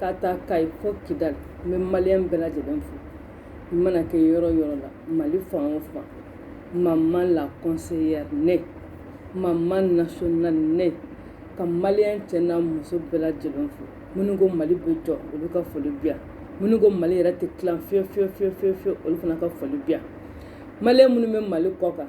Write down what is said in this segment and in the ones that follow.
K'a ta Kayi fo Kidal n bɛ malien bɛɛ lajɛlen fo i mana kɛ yɔrɔ yɔrɔ la mali fan o fan maman la conseillère ne maman nationale ne ka malien cɛ n'a muso bɛɛ lajɛlen fo minnu ko mali bɛ jɔ olu ka foli bɛ yan minnu ko mali yɛrɛ tɛ tila fiyewu olu fana ka foli bɛ yan malien minnu bɛ mali kɔ kan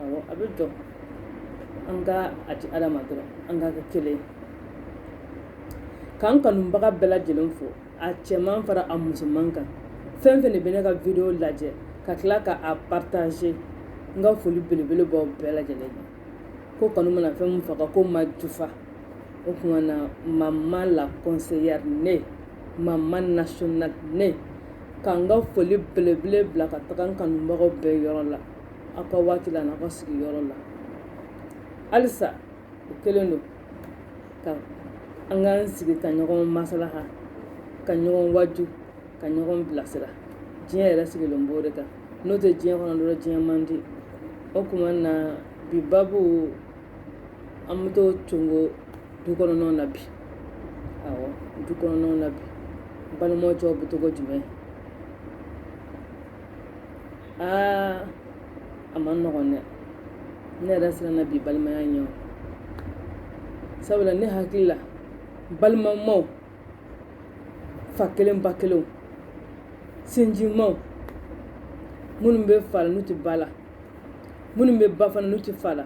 Awɔ a bɛ jɔ an ka a di Ala ma dɔrɔn an ka kɛ kelen ye ka n kanubaga bɛɛ lajɛlen fo a cɛman fara a musoman kan fɛn fɛn de bɛ ne ka video lajɛ ka tila ka a partager n ka foli belebele b'aw bɛɛ lajɛlen ye ko kanu mana fɛn min faga k'o ma jufa o kuma na maman la conseillère ne maman nationale ne ka n ka foli belebele bila ka taga n kanubagaw bɛɛ yɔrɔ la aw ka waati la n'aw ka sigiyɔrɔ la halisa o kelen don ka an k'an sigi ka ɲɔgɔn masalaha ka ɲɔgɔn waju ka ɲɔgɔn bilasira diɲɛ yɛrɛ sigilen b'o de kan n'o tɛ diɲɛ kɔnɔ dɔrɔn diɲɛ man di o kuma na bi babu an bɛ to tugun du kɔnɔnaw na bi awɔ du kɔnɔnaw na bi balimaw cɛw bɛ cogo jumɛn aa a man nɔgɔn dɛ ne yɛrɛ siranna bi balimaya ɲɛ sabula ne hakili la balimamaw fa kelen ba kelen sinjimaw minnu bɛ fa la n'u tɛ ba la minnu bɛ ba fana n'u tɛ fa la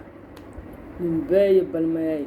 nin bɛɛ ye balimaya ye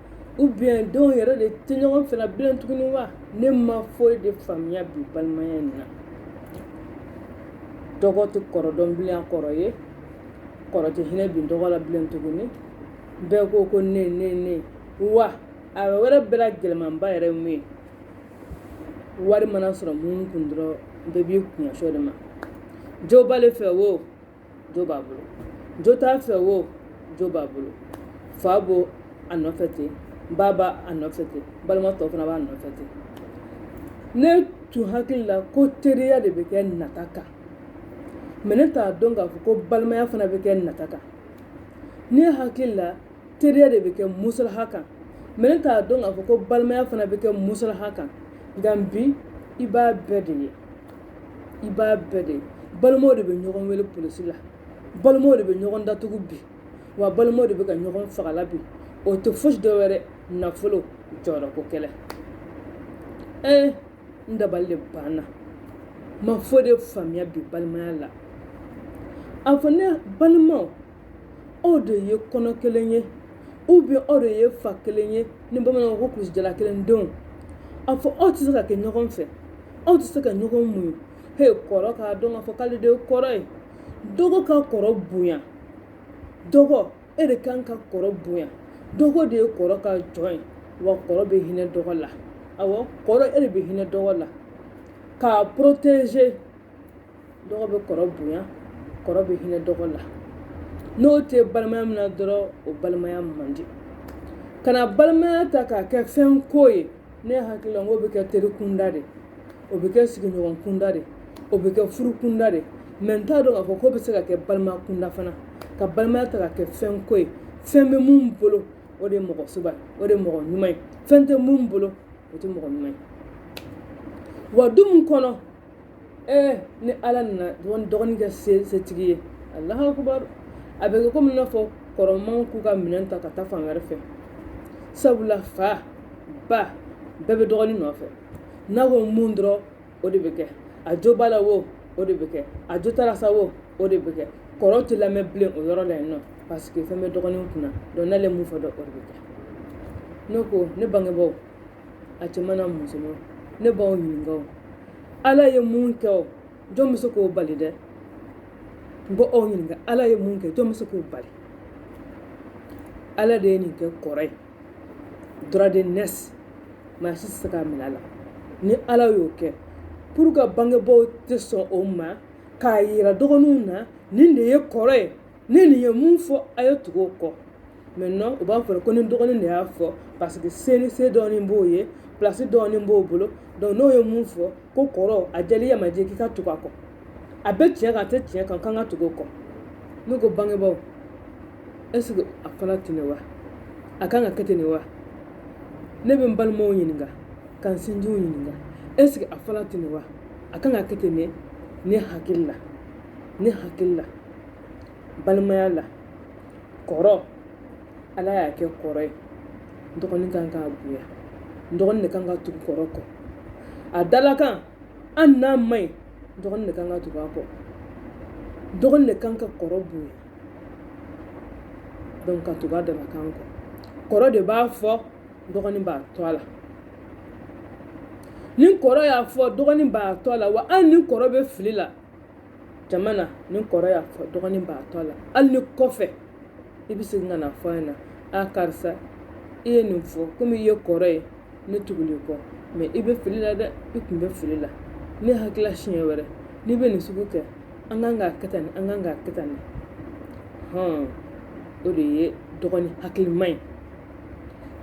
ou bien denw yɛrɛ de tɛ ɲɔgɔn fɛla bilen tuguni wa ne ma foyi de faamuya bi balimaya in na dɔgɔ tɛ kɔrɔ dɔn bilen a kɔrɔ ye kɔrɔ tɛ hinɛ bi dɔgɔ la bilen tuguni bɛɛ ko ko ne ne ne wa a wɛrɛ bɛɛ la gɛlɛmanba yɛrɛ ye mun ye wari mana sɔrɔ min kun dɔrɔn bɛɛ b'i kun ɲɛsin o de ma jo b'ale fɛ wo jo b'a bolo jo t'a fɛ wo jo b'a bolo fa b'o a nɔfɛ ten ba b'a nɔfɛ ten balima tɔ fana b'a nɔfɛ ten ne tun hakili la ko teriya de bɛ kɛ nata kan mais ne t'a dɔn k'a fɔ ko balimaya fana bɛ kɛ nata kan ne hakili la teriya de bɛ kɛ musalaha kan mais ne t'a dɔn k'a fɔ ko balimaya fana bɛ kɛ musalaha kan nka bi i b'a bɛɛ de ye i b'a bɛɛ de balimaw de bɛ ɲɔgɔn wele polisi la balimaw de bɛ ɲɔgɔn datugu bi wa balimaw de bɛ ka ɲɔgɔn fagala bi o tɛ fosi dɔ wɛrɛ nafolo jɔyɔrɔko kɛlɛ ee n dabali de banna n ma foyi de faamuya bi balimaya la a fɔ n ye balimaw aw de ye kɔnɔ kelen ye ou bien aw de ye fa kelen ye ni bamananw ko kulusijala kelen denw a fɔ aw tɛ se ka kɛ ɲɔgɔn fɛ aw tɛ se ka ɲɔgɔn muɲu he kɔrɔ k'a dɔn k'a fɔ k'ale de ye kɔrɔ ye dɔgɔ ka kɔrɔ bonya dɔgɔ e de kan ka kɔrɔ bonya dɔgɔ de ye kɔrɔ ka jɔn ye wa kɔrɔ bɛ hinɛ dɔgɔ la awɔ kɔrɔ e de bɛ hinɛ dɔgɔ la k'a protéger dɔgɔ bɛ kɔrɔ bonya kɔrɔ bɛ hinɛ dɔgɔ la n'o tɛ balimaya min na dɔrɔn o balimaya man di kana balimaya ta k'a kɛ fɛn ko ye ne hakili la n k'o bɛ kɛ teri kunda de o bɛ kɛ sigiɲɔgɔn kunda de o bɛ kɛ furu kunda de mɛ n t'a dɔn k'a fɔ k'o bɛ se ka kɛ balima kunda fana ka balimaya ta ka kɛ fɛn ko ye fɛn bɛ mun bolo o de ye mɔgɔ sɔbɛ o de ye mɔgɔ ɲuman ye fɛn tɛ mun bolo o tɛ mɔgɔ ɲuman ye wa du mun kɔnɔ ni ala nana dɔgɔnin kɛ setigi ye alahu akubar a bɛ kɛ komi n'a fɔ kɔrɔmanw k'u ka minɛn ta ka taa fan wɛrɛ fɛ sabula fa ba bɛɛ bɛ dɔgɔnin nɔfɛ n'a ko mun dɔrɔn o de bɛ kɛ a jo b'a la wo o de bɛ kɛ a jo t'a la sa wo o de bɛ kɛ kɔrɔ tɛ lamɛn bilen o yɔrɔ la yen nɔ parce que fɛn bɛ dɔgɔnin kunna donc n'ale mun fɔ dɔrɔn o de bɛ kɛ ne ko ne bangebaaw a cɛman n'a musoman ne b'aw ɲininka o ala ye mun kɛ o jɔn bɛ se k'o bali dɛ n b'aw ɲininka ala ye mun kɛ jɔn bɛ se k'o bali ala de ye nin kɛ kɔrɔ ye droit d'aînesse maa si tɛ se k'a minɛ a la ni ala y'o kɛ pourquoi bangebaaw tɛ sɔn o ma k'a yira dɔgɔninw na nin de ye kɔrɔ ye ni nin ye mun fɔ a ye tugu o kɔ maintenant u b'a fɔ ko ni dɔgɔnin de y'a fɔ parce que senin se dɔɔnin b'o ye place dɔɔnin b'o bolo donc n'o ye mun fɔ ko kɔrɔ a jɛlen a ma jɛ k'i ka tugu a kɔ a bɛ tiɲɛ kan a tɛ tiɲɛ kan k'an ka tugu o kɔ ne ko bangebaaw est ce que a fana tun ye wa a kan ka kɛ ten de wa ne bɛ n balimaw ɲininka ka n sinjiw ɲininka est ce que a fana tun ye wa a kan ka kɛ ten de ne hakili la ne hakili la balimaya la kɔrɔ ala y'a kɛ kɔrɔ ye dɔgɔnin kan k'a bonya dɔgɔnin de kan ka tugu kɔrɔ kɔ a dalakan hali n'a man ɲi dɔgɔnin de kan ka tugu a kɔ dɔgɔnin de kan ka kɔrɔ bonya donc ka tugu a dalakan kɔ kɔrɔ de b'a fɔ dɔgɔnin b'a to a la ni kɔrɔ y'a fɔ dɔgɔnin b'a to a la wa hali ni kɔrɔ bɛ fili la jama na ni kɔrɔ y'a fɔ dɔgɔnin b'a to a la hali ni kɔfɛ i bɛ segin ka na fɔ a ɲɛna a karisa i ye nin fɔ komi i ye kɔrɔ ye ne tugul'i kɔ mais i bɛ fili la dɛ i tun bɛ fili la ne hakilila siɲɛ wɛrɛ n'i bɛ nin sugu kɛ an kan k'a kɛ tan nin an kan k'a kɛ tan nin hɔn o de ye dɔgɔnin hakilima ye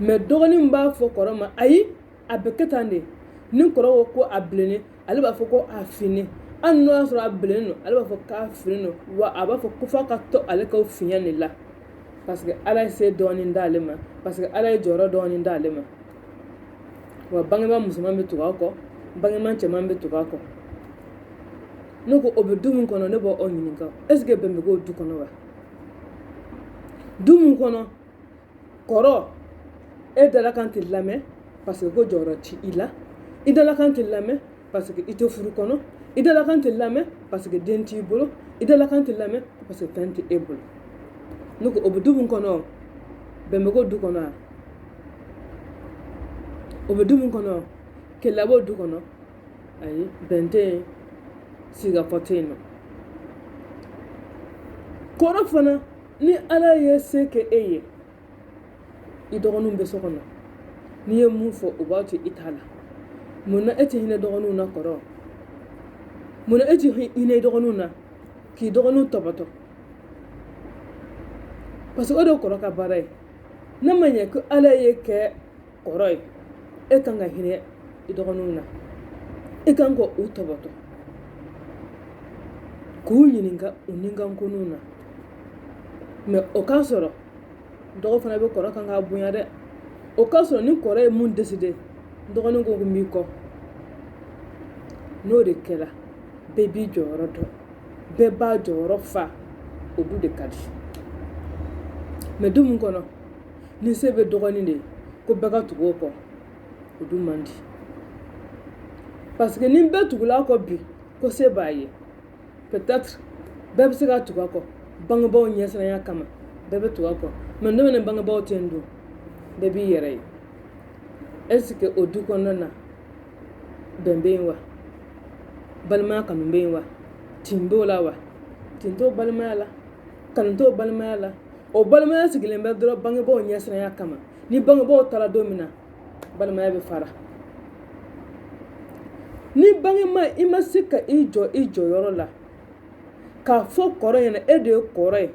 mais dɔgɔnin b'a fɔ kɔrɔ ma ayi a bɛ kɛ tan de ni kɔrɔ ko ko a bilennen ale b'a fɔ ko a finnen hali n'o y'a sɔrɔ a bilennen don ale b'a fɔ k'a finnen don wa a b'a fɔ ko f'a ka to ale ka finya de la parce que ala ye se dɔɔnin d'ale ma parce que ala ye jɔyɔrɔ dɔɔnin d'ale ma wa bangebaa musoman bɛ tugu a kɔ bangebaa cɛman bɛ tugu a kɔ ne ko o bɛ du min kɔnɔ ne b'aw ɲininka est-ce que bɛn bɛ k'o du kɔnɔ wa du min kɔnɔ kɔrɔ e dalakan tɛ lamɛn parce que ko jɔyɔrɔ t'i la i dalakan tɛ lamɛn parce que i tɛ furu kɔnɔ i dalakan tɛ lamɛn parce que den t'i bolo i dalakan tɛ lamɛn parce que fɛn tɛ e bolo ne ko o bɛ du min kɔnɔ bɛn bɛ k'o du kɔnɔ wa o bɛ du min kɔnɔ kɛlɛ b'o du kɔnɔ ayi bɛn tɛ yen sigikafɔ tɛ yen nɔ kɔrɔ fana ni ala ye se kɛ e ye i dɔgɔninw bɛ so kɔnɔ n'i ye mun fɔ u b'a to i ta la mun na e tɛ hinɛ dɔgɔninw na kɔrɔ mun na e tɛ hinɛ i dɔgɔninw na k'i dɔgɔninw tɔbɔtɔ parce que o de kɔrɔ ka baara ye ne ma ɲɛ ko ala y'e kɛ kɔrɔ ye e kan ka hinɛ i dɔgɔninw na e kan ka u tɔbɔtɔ k'u ɲininka u ninkankoninw na mais o k'a sɔrɔ dɔgɔ fana bɛ kɔrɔ kan k'a bonya dɛ o k'a sɔrɔ ni kɔrɔ ye mun décidé dɔgɔnin ko ko n b'i kɔ n'o de kɛra bɛɛ b'i jɔyɔrɔ dɔn bɛɛ b'a jɔyɔrɔ fa o du de ka di mais du mun kɔnɔ ni se bɛ dɔgɔnin de ko bɛɛ ka tugu o kɔ o du man di parce que ni bɛɛ tugul'a kɔ bi ko se b'a ye peut-être bɛɛ bɛ se ka tugu a kɔ bangebaaw ɲɛsiranya kama bɛɛ bɛ tugu a kɔ mais demain bangebaaw tɛ yen don bɛɛ b'i yɛrɛ ye est-ce que o du kɔnɔna na bɛn bɛ yen wa balimaya kanu bɛ yen wa tin b'o la wa tin t'o balimaya la kanu t'o balimaya la o balimaya sigilen bɛ dɔrɔn bangebaaw ɲɛsiranya kama ni bangebaaw taara don min na balimaya bɛ fara ni bangema i ma se ka i jɔ i jɔyɔrɔ la k'a fɔ kɔrɔ ɲɛna e de ye kɔrɔ ye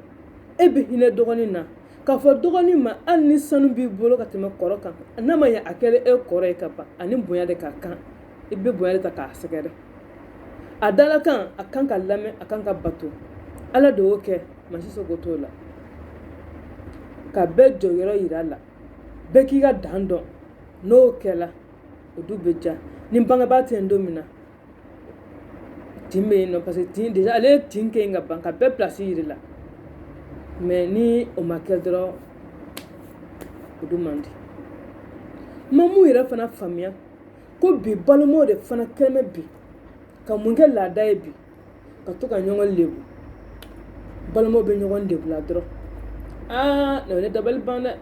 e bɛ hinɛ dɔgɔnin na k'a fɔ dɔgɔnin ma hali ni sanu b'i bolo ka tɛmɛ kɔrɔ kan n'a ma ɲɛ a kɛra e kɔrɔ ye ka ban a ni bonya de ka kan i bɛ bonya de ta k'a sɛgɛrɛ a dalakan a kan ka lamɛn a kan ka bato ala de y'o kɛ maa si sago t'o la ka bɛɛ jɔyɔrɔ yira a la bɛɛ k'i ka dan dɔn n'o kɛla o du bɛ diya ni bangebaa tɛ yen don min na tin bɛ yen nɔ parce que tin déjà ale ye tin kɛ yen ka ban ka bɛɛ pilasi yira a la mais ni o ma kɛ dɔrɔn o du man di n ma mun yɛrɛ fana faamuya ko bi balimaw de fana kɛlen bɛ bi ka mun kɛ laada ye bi ka to ka ɲɔgɔn lebu balimaw bɛ ɲɔgɔn lebu la dɔrɔn aa na ne dabali ban dɛ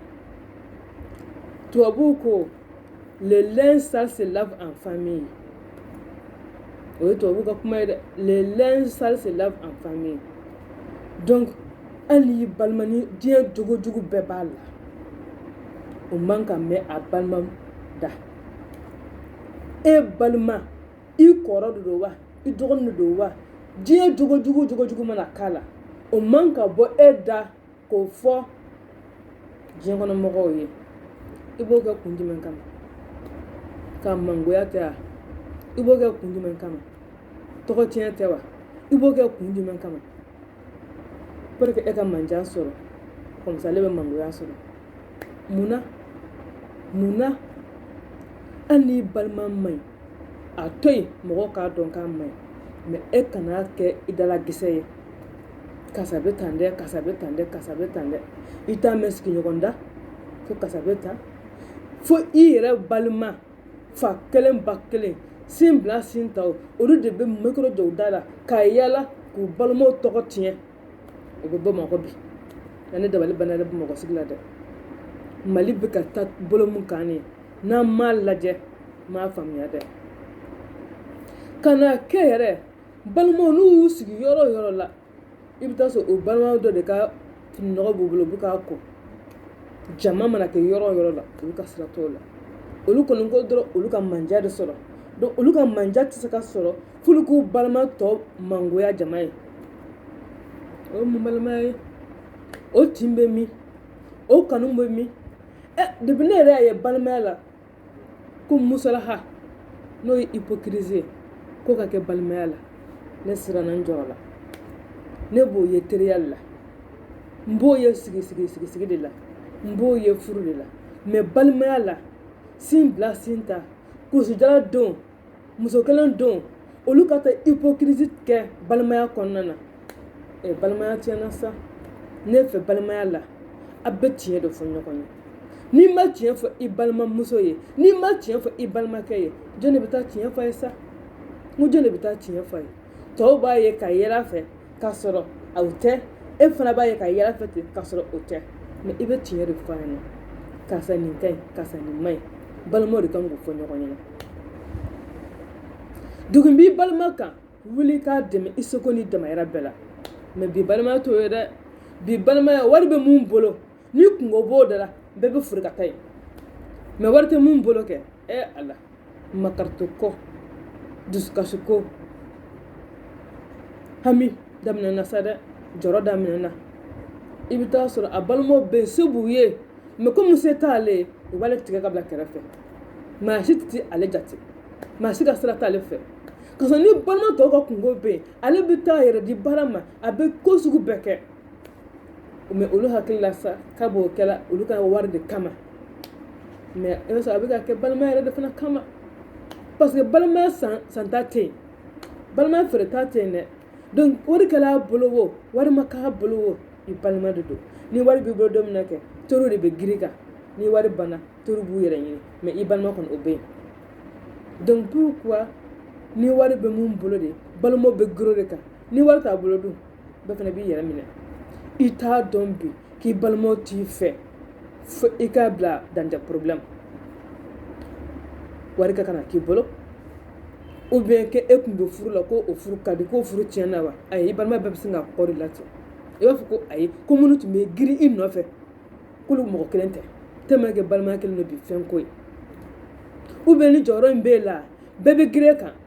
tubabuw ko le linge sale se lave en famille o ye tubabuw ka kuma ye dɛ le linge sale se lave en famille donc hali i balima ni diɲɛ jogojugu bɛɛ b'a la o man ka mɛn a balima da e balima i kɔrɔ de don wa i dɔgɔnin de don wa diɲɛ jogo jugu jogo jugu mana k'a la o man ka bɔ e da k'o fɔ diɲɛ kɔnɔ mɔgɔw ye i b'o kɛ kun jumɛn kama k'a mangoya tɛ wa i b'o kɛ kun jumɛn kama tɔgɔ tiɲɛ tɛ wa i b'o kɛ kun jumɛn kama pour que e ka mandiya sɔrɔ comme ça ale bɛ mangoya sɔrɔ mun na hali n'i balima man ɲi a to yen mɔgɔ k'a dɔn k'a man ɲi mais e kana kɛ i dalakisɛ ye karisa bɛ tan dɛ karisa bɛ tan dɛ karisa bɛ tan dɛ i t'a mɛn sigiɲɔgɔn da ko karisa bɛ tan fo i yɛrɛ balima fa kelen ba kelen sin bila sin ta olu de bɛ micro jɔ u da la k'a yaala k'u balimaw tɔgɔ tiɲɛ o bɛ bamakɔ bi ne dabali banna yɛrɛ bamakɔ sigi la dɛ mali bɛ ka taa bolo min kan ye n'an m'a lajɛ m'a faamuya dɛ ka na kɛ yɛrɛ balimaw n'u y'u sigi yɔrɔ o yɔrɔ la i bɛ taa sɔrɔ o balimaw dɔ de ka fininɔgɔ b'u bolo u bɛ k'a ko jama mana kɛ yɔrɔ o yɔrɔ la olu ka sira t'o la olu kɔni ko dɔrɔn olu ka mandiya de sɔrɔ donc olu ka mandiya tɛ se ka sɔrɔ f'olu k'u balima tɔ mangoya jama ye o ye mun balimaya ye o tin bɛ min o kanu bɛ min ɛ depi ne yɛrɛ y'a ye balimaya la ko musalaha n'o ye hypocrisie ye k'o ka kɛ balimaya la ne siranna n jɔrɔ la ne b'o ye teriya la n b'o ye sigi sigi sigi sigi de la n b'o ye furu de la mɛ balimaya la sin bila sin ta kulusijala don muso kelen don olu ka taa hypocrisie kɛ balimaya kɔnɔna na balimaya tiɲɛna sa ne fɛ balimaya la a bɛ tiɲɛ de fɔ ɲɔgɔn ye n'i ma tiɲɛ fɔ i balimamuso ye n'i ma tiɲɛ fɔ i balimakɛ ye jɔn de bɛ taa tiɲɛ fɔ a ye sa n ko jɔn de bɛ taa tiɲɛ fɔ a ye tɔw b'a ye ka yɛlɛ a fɛ ka sɔrɔ o tɛ e fana b'a ye ka yɛlɛ a fɛ ten ka sɔrɔ o tɛ mɛ i bɛ tiɲɛ de fɔ a ɲɛna karisa nin ka ɲi karisa nin man ɲi balimaw de kan k'o fɔ ɲɔgɔn ɲɛna degun b'i balima kan wuli k'a dɛmɛ i seko n'i damayira bɛɛ la mɛ bi balimaya t'o ye dɛ bi balimaya wari bɛ mun bolo ni kungo b'o da la bɛɛ bɛ fori ka taa yen mɛ wari tɛ mun bolo kɛ ɛ ala makaritɔ ko dusukasi ko hami daminɛna sa dɛ jɔrɔ daminɛna i bɛ taa sɔrɔ a balimaw bɛ yen se b'u ye mɛ komi se t'ale ye u b'ale tigɛ ka bila kɛrɛfɛ maa si tɛ ale jate maa si ka sira t'ale fɛ ka sɔrɔ ni balima tɔw ka kungo bɛ yen ale bɛ taa yɛrɛ di baara ma a bɛ ko sugu bɛɛ kɛ mɛ olu hakili la sa k'a b'o kɛla olu ka wari de kama mɛ i b'a sɔrɔ a bɛ k'a kɛ balimaya yɛrɛ de fana kama parce que balimaya san san ta tɛ yen balimaya feere ta tɛ yen dɛ donc wari kɛra a bolo o wari ma k'a bolo o i balima de don ni wari b'i bolo don min na kɛ teriw de bɛ girin i kan ni wari banna teriw b'u yɛrɛ ɲini mɛ i balima kɔni o bɛ yen donc pourquoi ni wari bɛ mun bolo de balimaw bɛ girin o de kan ni wari t'a bolo dun bɛɛ fana b'i yɛrɛ minɛ i t'a dɔn bi k'i balimaw t'i fɛ fo i k'a bila dans des problèmes wari ka kana k'i bolo ou bien que e tun bɛ furu la ko o furu ka di k'o furu tiɲɛna wa ayi i balima bɛɛ bɛ sin ka kɔ d'i la ten i b'a fɔ ko ayi ko minnu tun bɛ girin i nɔfɛ k'olu mɔgɔ kelen tɛ tellement que balimaya kelen don bi fɛnko ye ou bien ni jɔyɔrɔ in b'e la bɛɛ bɛ girin e kan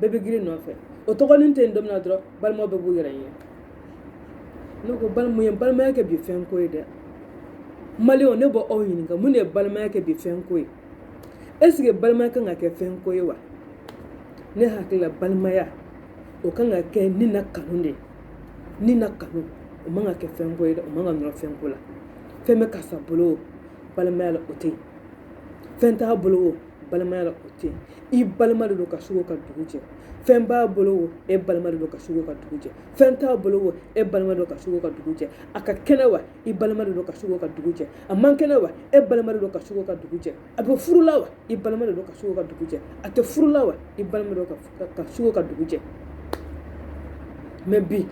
bɛɛ bɛ girin i nɔfɛ o tɔgɔ nin tɛ yen don min na dɔrɔn balima bɛɛ b'u yɛrɛ ɲini ne ko balima ye balimaya kɛ bi fɛn ko ye dɛ maliyɛnw ne b'aw ɲininka mun de ye balimaya kɛ bi fɛn ko ye eseke balimaya kan ka kɛ fɛn ko ye wa ne hakilila balimaya o kan ka kɛ ni na kanu de ni na kanu o man ka kɛ fɛn ko ye dɛ o man ka nɔrɔ fɛn ko la fɛn bɛ karisa bolo o balimaya la o tɛ yen fɛn t'a bolo o balimaya la o tɛ i balima de don ka su ko ka dugu jɛ fɛn b'a bolo o e balima de don ka su ko ka dugu jɛ fɛn t'a bolo o e balima don ka su ko ka dugu jɛ a ka kɛnɛ wa i balima de don ka su ko ka dugu jɛ a man kɛnɛ wa e balima de don ka su ko ka dugu jɛ a bɛ furu la wa i balima de don ka su ko ka dugu jɛ a tɛ furu la wa i balima don ka su ko ka dugu jɛ mais bi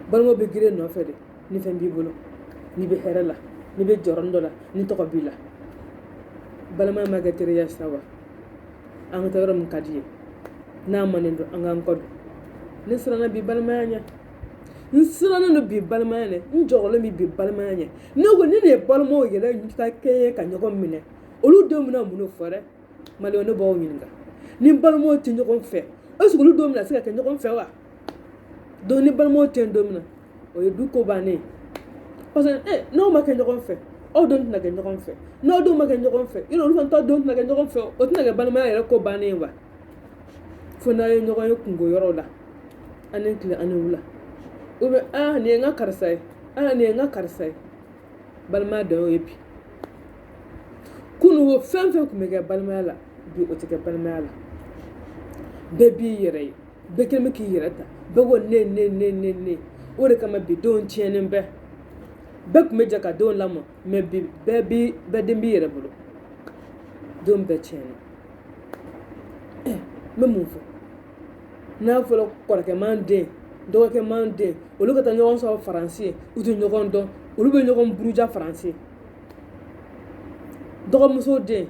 balimaw bɛ girin nɔfɛ de ni fɛn b'i bolo n'i bɛ hɛrɛ la n'i bɛ jɔyɔrɔnin dɔ la ni tɔgɔ b'i la balimaya ma kɛ teriya sa wa an ka taa yɔrɔ min ka di ye n'a manen don an k'an kɔ don ne siranna bi balimaya ɲɛ n sirannen don bi balimaya ɲɛ n jɔrɔlen bɛ bi balimaya ɲɛ ne ko ni nin ye balimaw yɛrɛ ka kɛɲɛ ka ɲɔgɔn minɛ olu denw bɛna mun de fɔ dɛ maliyɛnw ne b'aw ɲininka ni balimaw tɛ ɲɔgɔn fɛ est-ce que olu denw bɛna se ka kɛ ɲɔgɔn fɛ wa donc ni balimaw tɛ yen don min na o ye du ko bannen ye parce que eh, n'aw ma kɛ ɲɔgɔn fɛ aw denw tɛna kɛ ɲɔgɔn fɛ n'aw denw ma kɛ ɲɔgɔn fɛ yɔrɔ olu fana ta denw tɛna kɛ ɲɔgɔn fɛ o tɛna kɛ balimaya yɛrɛ ko bannen ye wa fo n'aw ye ɲɔgɔn ye kunko yɔrɔw la a ni tile a ni wula ou bien aa nin ye n ka karisa ye aa nin ye n ka karisa ye balimaya dan y'o ye bi kununko fɛn fɛn tun bɛ kɛ balimaya la bi o tɛ kɛ balimaya la bɛɛ b'i yɛrɛ ye bɛɛ kɛlen bɛ k'i yɛrɛ ta bɛɛ ko ne ne ne ne ne o de kama bi denw tiɲɛnen bɛ bɛɛ tun bɛ jɛ ka denw lamɔ mais bi bɛɛ bi bɛɛ den b'i yɛrɛ bolo denw bɛɛ tiɲɛna n bɛ mun fɔ n'a fɔra kɔrɔkɛman den dɔgɔkɛman den olu ka taa ɲɔgɔn sɔrɔ faransi yen u tɛ ɲɔgɔn dɔn olu bɛ ɲɔgɔn buruja faransi dɔgɔmuso den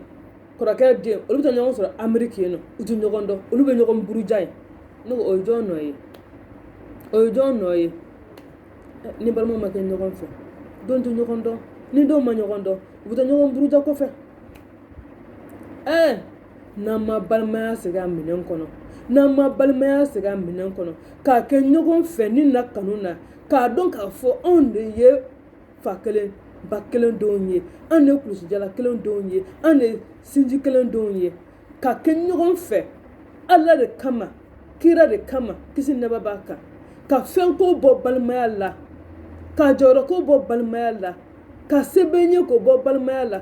kɔrɔkɛ den olu bɛ taa ɲɔgɔn sɔrɔ ameriki yen nɔ u tɛ ɲɔgɔn dɔn olu bɛ ɲɔgɔn buruja yen ne ko o ye jɔn nɔ ye o ye jɔn nɔ ye ni balimaw ma kɛ ɲɔgɔn fɛ denw tɛ ɲɔgɔn dɔn ni denw ma ɲɔgɔn dɔn u bɛ taa ɲɔgɔn buruja kɔfɛ ɛɛ n'an ma balimaya segin a minɛn kɔnɔ n'an ma balimaya segin a minɛn kɔnɔ ka kɛ ɲɔgɔn fɛ ni na kanu na k'a dɔn k'a fɔ anw de ye fa kelen ba kelen denw ye anw de ye kulusijala kelen denw ye anw de ye sinji kelen denw ye ka kɛ ɲɔgɔn fɛ ala de kama kira de kama kisi nɛɛma b'a kan ka fɛnko bɔ balimaya la ka jɔyɔrɔko bɔ balimaya la ka se bɛ n ye ko bɔ balimaya la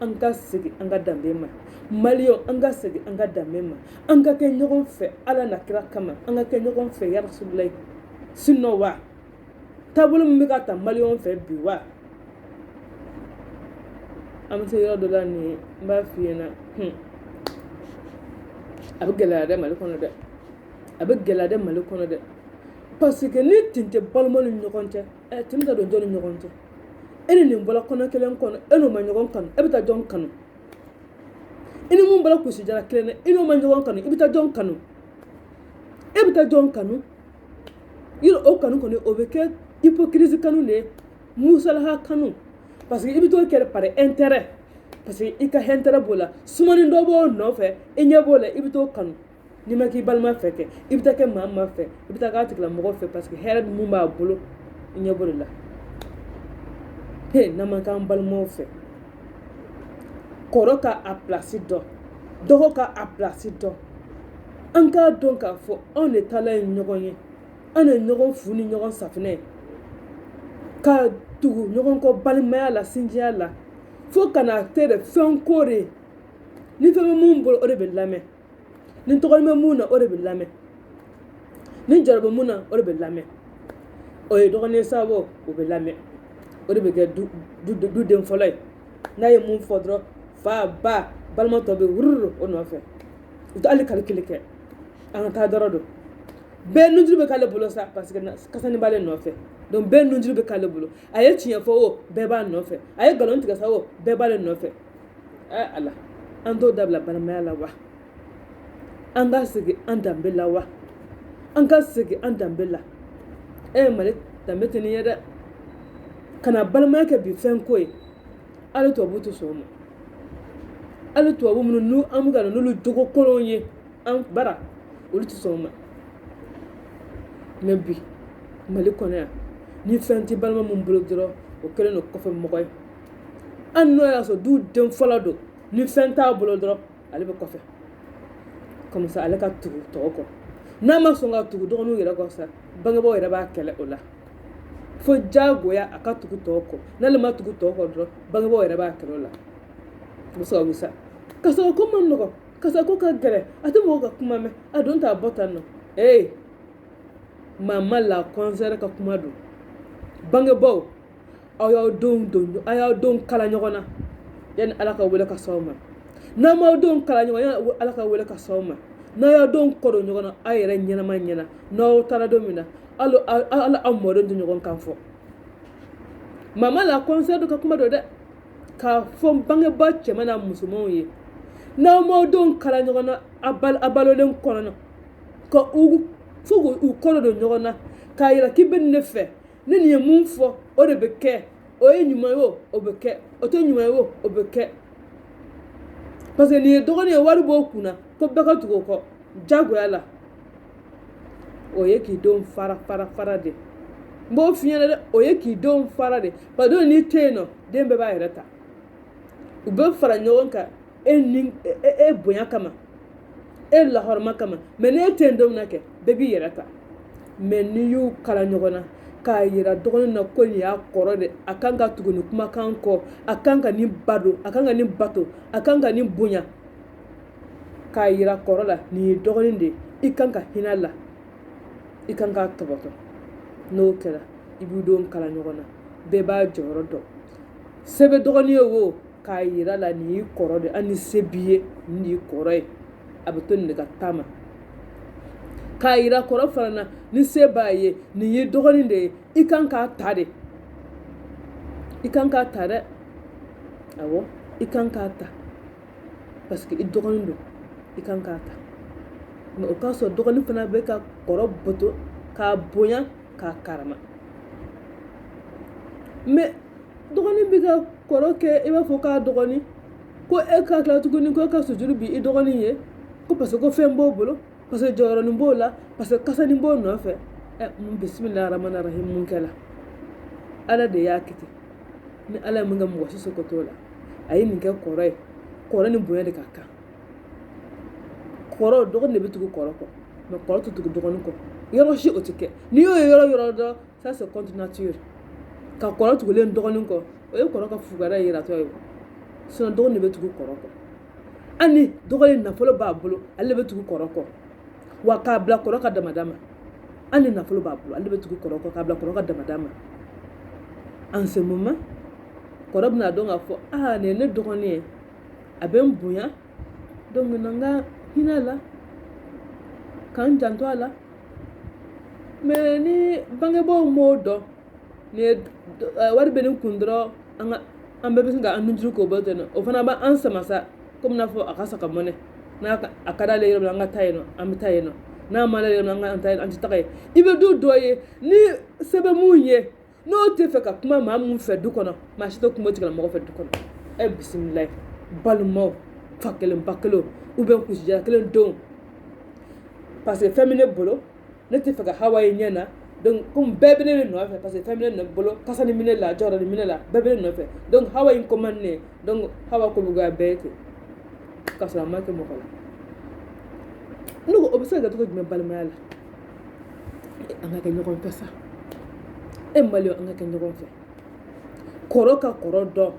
an ka segin an ka danbe ma maliyɛnw an ka segin an ka danbe ma an ka kɛ ɲɔgɔn fɛ ala n'a kira kama an ka kɛ ɲɔgɔn fɛ ya rasululayi sinon wa taabolo min bɛ ka ta maliyɛnw fɛ bi wa an bɛ se yɔrɔ dɔ la nin ye n b'a f'i ɲɛna hmm. a bɛ gɛlɛya dɛ mali kɔnɔ dɛ a bɛ gɛlɛya dɛ mali kɔnɔ dɛ parce que ni tin tɛ balimaw ni ɲɔgɔn cɛ ɛ tin bɛ taa don jɔn ni ɲɔgɔn cɛ e ni nin bɔra kɔnɔ kelen kɔnɔ e n'o ma ɲɔgɔn kanu e bɛ taa jɔn kanu i ni mun bɔra kusijala kelen na i n'o ma ɲɔgɔn kanu i bɛ taa jɔn kanu e bɛ taa jɔn kanu yɛrɛ o kanu kɔni o bɛ kɛ hypocrisie kanu de ye musalaha kanu parce que i bɛ t'o kɛ par intérêt parce que i ka intérêt b'o la sumani dɔ b'o nɔfɛ i ɲɛ b'o la i bɛ t'o kanu n'i ma k'i balima fɛ kɛ i bɛ taa kɛ maa ma fɛ i bɛ taa k'a tigila mɔgɔ fɛ parce que hɛrɛ min b'a bolo i ɲɛ b'o de la he n'an ma k'an balimaw fɛ kɔrɔ ka a pilasi dɔn dɔgɔ ka a pilasi dɔn an k'a dɔn k'a fɔ anw de taala ye ɲɔgɔn ye an de ɲɔgɔn fu ni ɲɔgɔn safinɛ ka tugu ɲɔgɔn kɔ balimaya la sinjiya la fo ka na kɛ de fɛn ko de ni fɛn bɛ mun bolo o de bɛ lamɛn ni tɔgɔnin bɛ mun na o de bɛ lamɛn ni jɔyɔrɔ bɛ mun na o de bɛ lamɛn o ye dɔgɔnin ye sa wo o bɛ lamɛn o de bɛ kɛ duden fɔlɔ ye n'a ye mun fɔ dɔrɔn fa ba balima tɔ bɛ wururu o nɔfɛ u tɛ hali kalikili kɛ an ka taa dɔrɔn don bɛɛ nujuru bɛ k'ale bolo sa parce que kasani b'ale nɔfɛ donc bɛɛ nujuru bɛ k'ale bolo a ye tiɲɛ fɔ o bɛɛ b'a nɔfɛ a ye nkalon tigɛ sa o bɛɛ b'ale nɔfɛ Ala an t'o dabila balimaya la wa an ka segin an danbe la wa an ka segin an danbe la e ye mali danbe tɛ nin ye dɛ kana balimaya kɛ bi fɛn ko ye hali tubabu tɛ sɔn o ma hali tubabu minnu n'u an bɛ ka na n'olu jogo kolonw ye an bara olu tɛ sɔn o ma mais bi mali kɔnɔ yan ni fɛn tɛ balima min bolo dɔrɔn o kɛlen don kɔfɛ mɔgɔ ye an n'o y'a sɔrɔ du den fɔlɔ don ni fɛn t'a bolo dɔrɔn ale bɛ kɔfɛ comme ça ale ka tugu tɔw kɔ n'a ma sɔn ka tugu dɔgɔninw yɛrɛ kɔ sa bangebaaw yɛrɛ b'a kɛlɛ o la fo diyagoya a ka tugu tɔw kɔ n'ale ma tugu tɔw kɔ dɔrɔn bangebaaw yɛrɛ b'a kɛlɛ o la o bɛɛ sababu sa kasa ko man nɔgɔn kasa ko ka gɛlɛn a tɛ mɔgɔ ka kuma mɛn a don t'a bɔ tan nɔ ee mama la kɔnsɛri ka kuma don bangebaaw aw y'aw denw kala ɲɔgɔn na yanni ala ka wele ka s'aw ma n'aw m'aw denw kala ɲɔgɔn yanni ala ka wele ka s'aw ma n'aw y'aw denw kɔdon ɲɔgɔn na aw yɛrɛ ɲɛnama ɲɛna n'aw taara don min na hali aw mɔdenw tɛ ɲɔgɔn kan fɔ mama la kɔnsɛri ka kuma don dɛ k'a fɔ bangebaa cɛman n'a musomanw ye n'aw m'aw denw kala ɲɔgɔn na a balolen kɔnɔna ka u fo k'u kɔdon ɲɔgɔn na k'a yira k'i bɛ ne fɛ ni nin ye mun fɔ o de bɛ kɛ o ye ɲuman ye o o bɛ kɛ o tɛ ɲuman ye o o bɛ kɛ parce que nin ye dɔgɔnin ye wari b'o kun na ko bɛɛ ka tugu o kɔ jagoya la o ye k'i denw fara fara fara de n b'o f'i ɲɛna dɛ o ye k'i denw fara de parce que n'i tɛ yen nɔ den bɛɛ b'a yɛrɛ ta u bɛ fara ɲɔgɔn kan e ni e, e, e bonya kama e lahɔrɔma kama mɛ n'e tɛ yen don min na kɛ bɛɛ b'i yɛrɛ ta mɛ n'i y'u kala ɲɔgɔn na k'a yira dɔgɔnin na ko nin y'a kɔrɔ de a kan ka tugu nin kumakan kɔ a kan ka nin ba don a kan ka nin bato a kan ka nin bonya k'a yira kɔrɔ la nin ye dɔgɔnin de ye i kan ka hinɛ a la i kan k'a tɔbɔtɔ n'o kɛra i b'i denw kala ɲɔgɔn na bɛɛ b'a jɔyɔrɔ dɔn se bɛ dɔgɔnin ye wo k'a yira la nin y'i kɔrɔ de hali ni se b'i ye nin y'i kɔrɔ ye a bɛ to nin de ka taama k'a yira kɔrɔ fana na ni se b'a ye nin y'i dɔgɔnin de ye i kan k'a ta de i kan k'a ta dɛ awɔ i kan k'a ta parce que i dɔgɔnin don i kan k'a ta mɛ o k'a sɔrɔ dɔgɔnin fana bɛ ka kɔrɔ bato k'a bonya k'a karama mɛ dɔgɔnin bɛ ka kɔrɔ kɛ i b'a fɔ k'a dɔgɔnin ko e ka tila tuguni ko e ka sujuru bi i dɔgɔnin ye ko parce que ko fɛn b'o bolo parce que jɔyɔrɔnin b'o la parce que kasanin b'o nɔfɛ ɛ mun bisimilahi rahmani rahim mun kɛla ala de y'a kɛ ten ni ala ye mun kɛ mɔgɔ si seko t'o la a ye nin kɛ kɔrɔ ye kɔrɔ ni bonya de ka kan kɔrɔ dɔgɔnin de bɛ tugu kɔrɔ kɔ mɛ kɔrɔ tɛ tugu dɔgɔnin kɔ yɔrɔ si o tɛ kɛ n'i y'o ye yɔrɔ yɔrɔ dɔrɔn ça c'est contre nature ka kɔrɔ tugulen dɔgɔnin kɔ o ye kɔrɔ ka fugariya yiratɔ ye sinon dɔgɔnin de bɛ tugu kɔrɔ kɔ hali dɔgɔnin nafolo b'a bolo ale bɛ tugu kɔrɔ kɔ wa k'a bila kɔrɔ ka damada ma hali nafolo b'a bolo ale bɛ tugu kɔrɔ kɔ k'a bila kɔrɔ ka damada ma en ce moment kɔrɔ bɛn'a dɔn k'a fɔ aa nin ye ne dɔgɔnin ye a bɛ n bonya donc na n ka hinɛ a la ka n janto a la mɛ ni bangebaaw m'o dɔn ni ye eh, wari bɛ nin kun dɔrɔn an ka an bɛɛ bɛ sin ka an nujuru k'o bolo ten nɔ o fana b'an sama sa komi n'a fɔ a ka saga mɔnen n'a ka- a ka d'ale yɔrɔ min na an ka taa yen nɔ an bɛ taa yen nɔ n'a ma d'ale yɔrɔ min na an kana taa yen an tɛ taga yen i bɛ du dɔ ye ni se bɛ mun ye n'o tɛ fɛ ka kuma maa mun fɛ du kɔnɔ maa si tɛ kuma o tigilamɔgɔ fɛ du kɔnɔ e bisimilayi balimaw fa kelen ba kelen ou bien kusijala kelen denw parce que fɛn bɛ ne bolo ne tɛ fɛ ka hawa ye ɲɛ na donc komi bɛɛ bɛ ne de nɔfɛ parce que fɛn bɛ ne bolo kasanin bɛ ne la jɔyɔrɔnin bɛ ne la bɛɛ bɛ ne nɔfɛ donc hawa in commande ne donc hawa ko bɛ goya bɛɛ ye ten k'a sɔrɔ a ma kɛ mɔgɔ la ne ko o bɛ se ka kɛ cogo jumɛn balimaya la an ka kɛ ɲɔgɔn fɛ sa e mali an ka kɛ ɲɔgɔn fɛ kɔrɔ ka kɔrɔ dɔn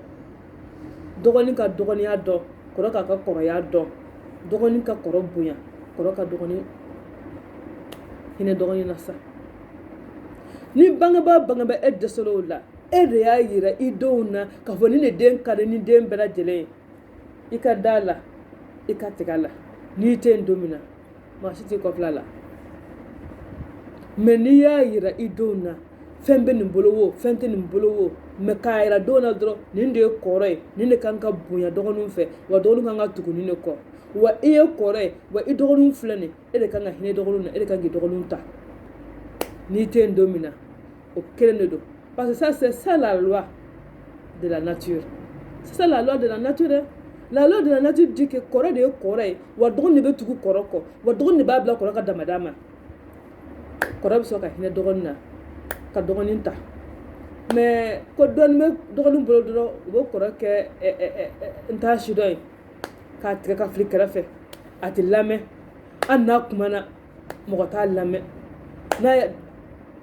dɔgɔnin ka dɔgɔninya dɔn kɔrɔ k'a ka kɔrɔya dɔn dɔgɔnin ka kɔrɔ bonya kɔrɔ ka dɔgɔnin hinɛ dɔgɔnin na sa ni bangebaa bangebaa e dɛsɛra o la e de y'a yira i denw na k'a fɔ ni ne den ka di ni den bɛɛ lajɛlen ye i ka da a la i ka tigɛ a la n'i tɛ yen don min na maa si t'i kɔ filɛ a la mais n'i y'a yira i denw na fɛn bɛ nin bolo wo fɛn tɛ nin bolo wo mais k'a yira denw na dɔrɔn nin de ye kɔrɔ ye nin de kan ka bonya dɔgɔninw fɛ wa dɔgɔninw kan ka tugu nin de kɔ wa i ye kɔrɔ ye wa i dɔgɔninw filɛ nin e de kan ka hinɛ i dɔgɔninw na e de kan k'i dɔgɔninw ta n'i tɛ yen don min na o kelen de don parce que ça c'est ça la loi de la nature c'est ça la loi de la nature hein? la loi de la nature dit que kɔrɔ de ye kɔrɔ ye wa dɔgɔnin de bɛ tugu kɔrɔ kɔ wa dɔgɔnin de b'a bila kɔrɔ ka damada ma kɔrɔ bɛ sɔrɔ ka hinɛ dɔgɔnin na ka dɔgɔnin ta mais ko dɔɔnin bɛ dɔgɔnin bolo dɔrɔn u bɛ kɔrɔ kɛ ɛ eh, ɛ eh, ɛ eh, n t'a sidɔn ye k'a tigɛ k'a fili kɛrɛfɛ a tɛ lamɛn hali n'a kumana mɔgɔ t'a lamɛn n'a ye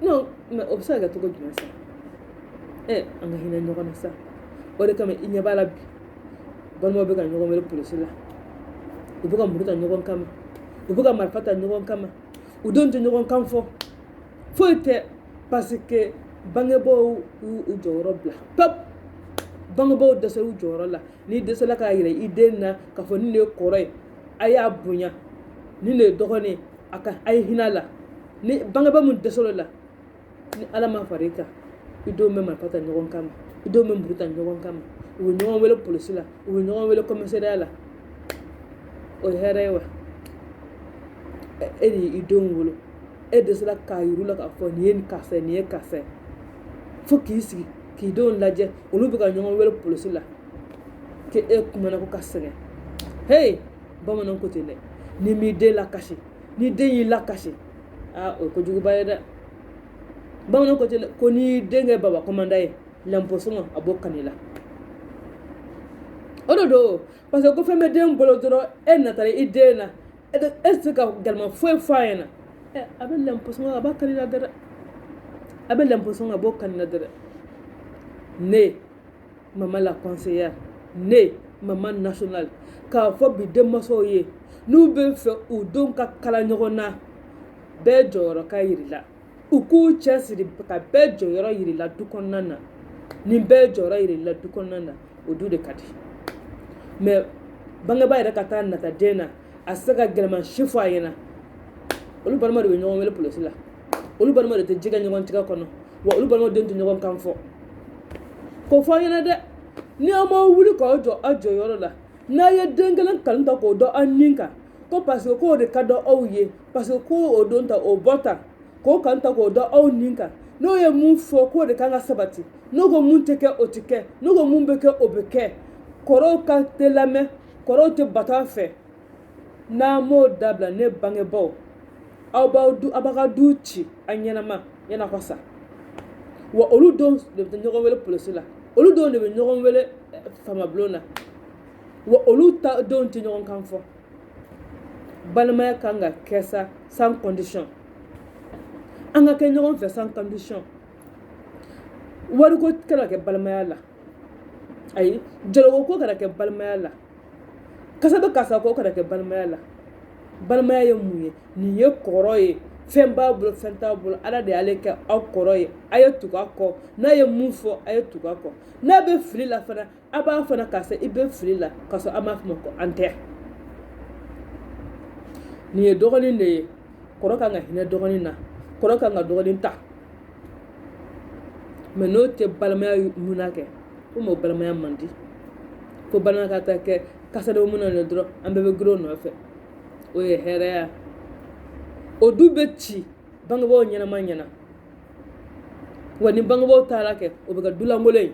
non mais o bɛ se ka kɛ cogo jumɛn sa ɛ an ka hinɛ ɲɔgɔn na sa o de kama i ɲɛ b'a la bi balimaw bɛ ka ɲɔgɔn wele polisi la u bɛ ka muru ta ɲɔgɔn kama u bɛ ka marifa ta ɲɔgɔn kama u denw tɛ ɲɔgɔn kan fɔ foyi tɛ parce que bangebaaw y'u jɔyɔrɔ bila pewu bangebaaw dɛsɛr'u jɔyɔrɔ la n'i dɛsɛla k'a yira i den na k'a fɔ nin de ye kɔrɔ ye a y'a bonya nin de ye dɔgɔnin ye a ye hinɛ a la ni bangebaa min dɛsɛr'o la ni ala ma fara i kan i denw bɛ marifa ta ɲɔgɔn kama i denw bɛ muru ta ɲɔgɔn kama u bɛ ɲɔgɔn wele polisi la u bɛ ɲɔgɔn wele komisariya la o ye hɛrɛ ye wa e de y'i denw wolo e dɛsɛra k'a yir'u la k'a fɔ nin ye nin karisa ye nin ye karisa ye fo k'i sigi k'i denw lajɛ olu bɛ ka ɲɔgɔn wele polisi la k'e kumana ko ka sɛgɛn hey bamananw ko ten dɛ n'i m'i den lakasi n'i den y'i lakasi aa o ye kojuguba ye dɛ bamananw ko ten dɛ ko n'i den kɛ baba kɔmandan ye lɛnposɔngɔ a b'o kan'i la o de don parce que ko fɛn bɛ den bolo dɔrɔn e natara i den na e tɛ se ka gɛlɛman foyi fɔ a ɲɛna a bɛ lɛnposɔngɔ a b'a kan'i la dɛrɛ a bɛ lɛnposɔngɔ a b'o kan'i la dɛrɛ ne maman la conseillère ne maman nationale k'a fɔ bi denmansaw ye n'u bɛ fɛ u denw ka kala ɲɔgɔn na bɛɛ jɔyɔrɔ ka yir'a la u k'u cɛ siri ka bɛɛ jɔyɔrɔ yir'i la du kɔnɔna na ni bɛɛ jɔyɔrɔ yirala du kɔnɔna na o du de ka di mɛ bangebaa yɛrɛ ka taa nata den na a se ka gɛlɛman si fɔ a ɲɛna olu balima de bɛ ɲɔgɔn wele polisi la olu balima de tɛ ji kɛ ɲɔgɔn tigɛ kɔnɔ wa olu balima den tɛ ɲɔgɔn kan fɔ ko fɔ a ɲɛna dɛ ni aw ma wuli k'aw jɔ aw jɔyɔrɔ la n'a ye den kelen kanu ta k'o dɔn aw ni kan ko parce que k'o de ka dɔn aw ye parce que ko o don ta o bɔ ta k'o kanu ta k'o dɔn aw ni kan n'o ye mun fɔ k'o de kan ka sabati n'o ko mun tɛ kɛ o tɛ kɛ n'o ko mun bɛ kɛ o bɛ kɛ kɔrɔw kan tɛ lamɛn kɔrɔw tɛ bato a fɛ n'a m'o dabila ne bangebaaw aw b'a ka du ci a ɲɛnama yan'a ka sa wa olu denw de bɛ ɲɔgɔn wele polisi la olu denw de bɛ ɲɔgɔn wele eh, faamabulon na wa olu ta denw tɛ ɲɔgɔn kan fɔ balimaya kan ka kɛ sa sans condition an ka kɛ ɲɔgɔn fɛ sans condition wariko kana kɛ balimaya la ayi jɔyɔrɔko kana kɛ balimaya la karisa bɛ karisa ko kana kɛ balimaya la balimaya ye mun ye nin ye kɔrɔ ye fɛn b'a bolo fɛn t'a bolo ala de y'ale kɛ aw kɔrɔ ye a ye tugu a kɔ n'a ye mun fɔ a ye tugu a kɔ n'a bɛ fili la fana a b'a fana k'a fɔ i bɛ fili la ka sɔrɔ a m'a fɔ ko an tɛ nin ye dɔgɔnin de ye kɔrɔ kan ka hinɛ dɔgɔnin na kɔrɔ kan ka dɔgɔnin ta mɛ n'o tɛ balimaya munna kɛ ko mɔgɔ balimaya man di ko balimaya ka taa kɛ karisa denw munna de dɔrɔn an bɛɛ bɛ girin o nɔfɛ o ye hɛrɛya o du bɛ ci bangebaaw ɲɛnama ɲɛna wa ni bangebaaw taara kɛ o bɛ kɛ dulankolon ye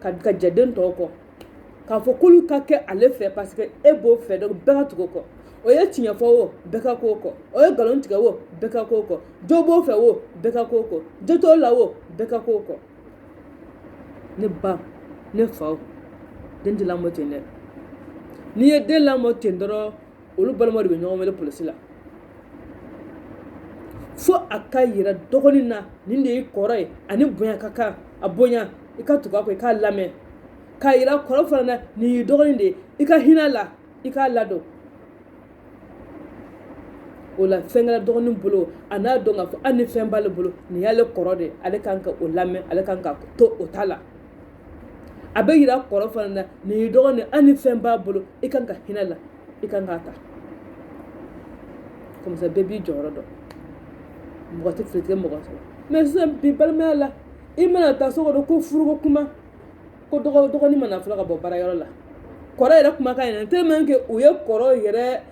kan ka jɛ den tɔw kɔ k'a fɔ k'olu ka kɛ ale fɛ parce que e b'o fɛ donc bɛɛ ka tugu o kɔ o ye tiɲɛ fɔ o bɛɛ ka k'o kɔ o ye nkalon tigɛ o bɛɛ ka k'o kɔ jo b'o fɛ o bɛɛ ka k'o kɔ jo t'o la o bɛɛ ka k'o kɔ ne ba ne faw den tɛ lamɔ ten dɛ n'i ye den lamɔ ten dɔrɔn olu balima de bɛ ɲɔgɔn wele polisi la fo a ka yira dɔgɔnin na nin de y'i kɔrɔ ye a ni bonya ka kan a bonya i ka tugu a kɔ i k'a lamɛn k'a yira kɔrɔ fana na nin y'i dɔgɔnin de ye i ka hinɛ a la i k'a ladon o la fɛn kɛra dɔgɔnin bolo a n'a dɔn k'a fɔ hali ni fɛn b'ale bolo nin y'ale kɔrɔ de ale kan ka o lamɛn ale kan ka to o ta la a bɛ yira kɔrɔ fana na nin y'i dɔgɔnin hali ni fɛn b'a bolo i kan ka hinɛ a la i kan k'a ta comme ça bɛɛ b'i jɔyɔrɔ dɔn mɔgɔ tɛ fili mɔgɔ sɔrɔ mɛ sisan bi balimaya la i mana taa so kɔnɔ ko furuko kuma ko dɔgɔnin mana fɔlɔ ka bɔ baarayɔrɔ la kɔrɔ yɛrɛ kumakan yɛrɛ tellement que u ye kɔrɔ yɛrɛ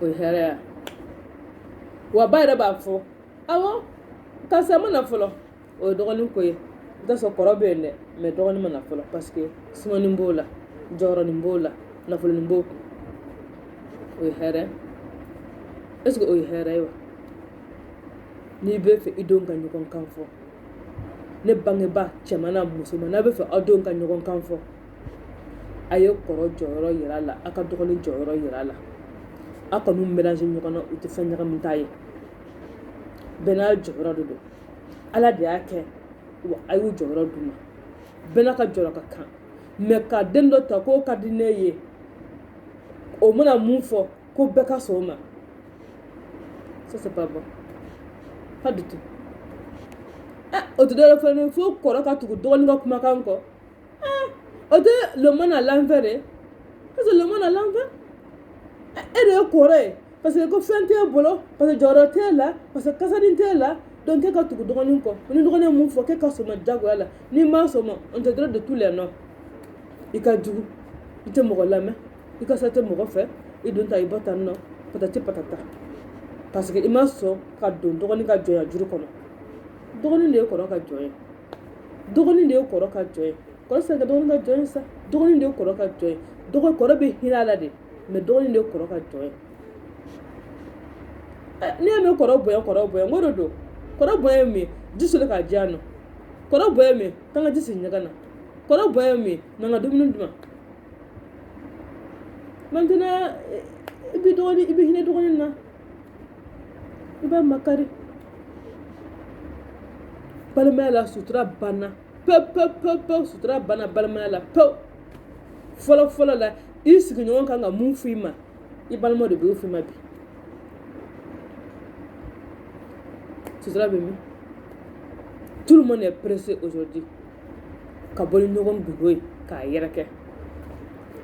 o ye hɛrɛ ye wa ba yɛrɛ b'a fɔ awɔ karisa ma na fɔlɔ o ye dɔgɔnin ko ye i t'a sɔrɔ kɔrɔ bɛ yen dɛ mais dɔgɔnin ma na fɔlɔ parce que sumanin b'o la jɔyɔrɔnin b'o la nafolonin b'o kun o ye hɛrɛ est ce que o ye hɛrɛ ye wa n'i bɛ fɛ i denw ka ɲɔgɔn kan fɔ ne bangebaa cɛman n'a musoman n'a bɛ fɛ aw denw ka ɲɔgɔn kan fɔ a ye kɔrɔ jɔyɔrɔ yira a la aw ka dɔgɔnin jɔyɔrɔ yira a la aw kan'u mélanger ɲɔgɔn na u tɛ fɛn ɲagamita ye bɛɛ n'a jɔyɔrɔ de don ala de y'a kɛ wa a y'u jɔyɔrɔ d'u ma bɛɛ n'a ka jɔyɔrɔ ka kan mais ka den dɔ ta k'o ka di ne ye o mana mun fɔ ko bɛɛ ka sɔn o ma ça c'est pas bon pas du tout o tɛ dɔwɛrɛ fɛn fo kɔrɔ ka tugu dɔgɔnin ka kumakan kɔ o tɛ le monde à l'envers dɛ parce que le monde à l'envers e de ye kɔrɔ ye parce que ko fɛn t'e bolo parce que jɔyɔrɔ t'e la parce que kasanin t'e la donc k'e ka tugu dɔgɔnin kɔ ni dɔgɔnin ye mun fɔ k'e ka sɔn a ma jagoya la n'i ma sɔn a ma on te donne de tous les noms i ka jugu i tɛ mɔgɔ lamɛn i ka sa tɛ mɔgɔ fɛ i don ta i bɔ tan nɔ patati patata parce que i ma sɔn ka don dɔgɔnin ka jɔnya juru kɔnɔ dɔgɔnin de ye kɔrɔ ka jɔn ye dɔgɔnin de ye kɔrɔ ka jɔn ye kɔrɔ tɛ se ka kɛ dɔgɔnin ka jɔn ye sa dɔgɔnin de ye kɔrɔ ka jɔn ye dɔgɔ kɔrɔ bɛ hinɛ a la de mais dɔgɔnin de ye kɔrɔ ka jɔn ye ɛ n'i y'a mɛn kɔrɔ bonya kɔrɔ bonya ko de don kɔrɔ bonya ye mun ye ji soli k'a di yan nɔ kɔrɔ bonya ye mun ye k'an ka ji sigi ɲɛgɛn na kɔrɔ bonya ye mun ye n'an ka dumuni dun maintenant i bɛ hinɛ dɔgɔnin na i b'a makari balimaya la sutura banna pewu pewu pewu pewu sutura banna balimaya la pewu fɔlɔ fɔlɔ la i sigiɲɔgɔn kan ka mun f'i ma i balima de b'o f'i ma bi sutura bɛ min tout le monde est pressé aujourd'hui ka bɔ ni ɲɔgɔn gundo ye k'a yɛrɛkɛ